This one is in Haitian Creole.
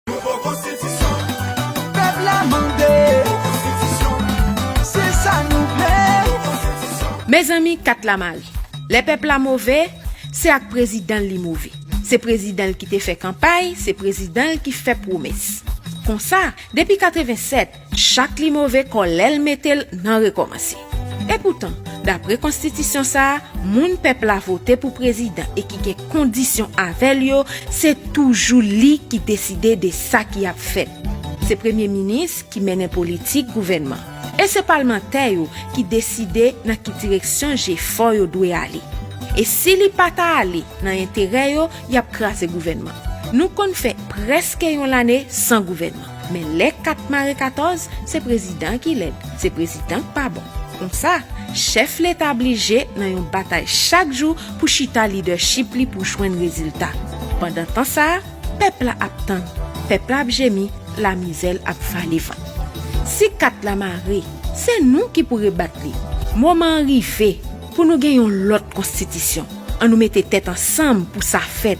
Nouvo konstitisyon. Pèp la mande. Nouvo konstitisyon. Se sa nou vle. Nouvo konstitisyon. Mezanmi kat la mare. Lè pèp la move, se ak prezidan l li move. Se prezidan l ki te fè kanpay, se prezidan l ki fè pwomès. Konsa, depi 87, Chak li move kò lè l mete l nan rekòmanse. Epoutan, dapre konstitisyon sa a, moun pèp la vote pou prezidan e ki gen kondisyon avè l yo, se toujou li ki deside de sa ki ap fèt. Se premye minis ki mennen politik gouvènman e se palmantè yo ki deside nan ki direksyon jefò yo dwe ale. E si li pa ta ale nan enterè yo, y ap kraze gouvènman. Nou konn fè prèske yon lane san gouvènman. Men lè kat mare 14, se prezidan ki lèd, se prezidan k pa bon. Konsa, chèf leta blije nan yon batay chak jou pou chita lidèchip li pou jwenn rezilta. Pandan tan sa a, pèp la ap tann, pèp la ap jemi, lamizè l ap vale van. Si kat la mare, se nou ki pou rebat li. Moman an rive pou nou gen yon lòt konstitisyon. An nou mete tèt ansanm pou sa fèt.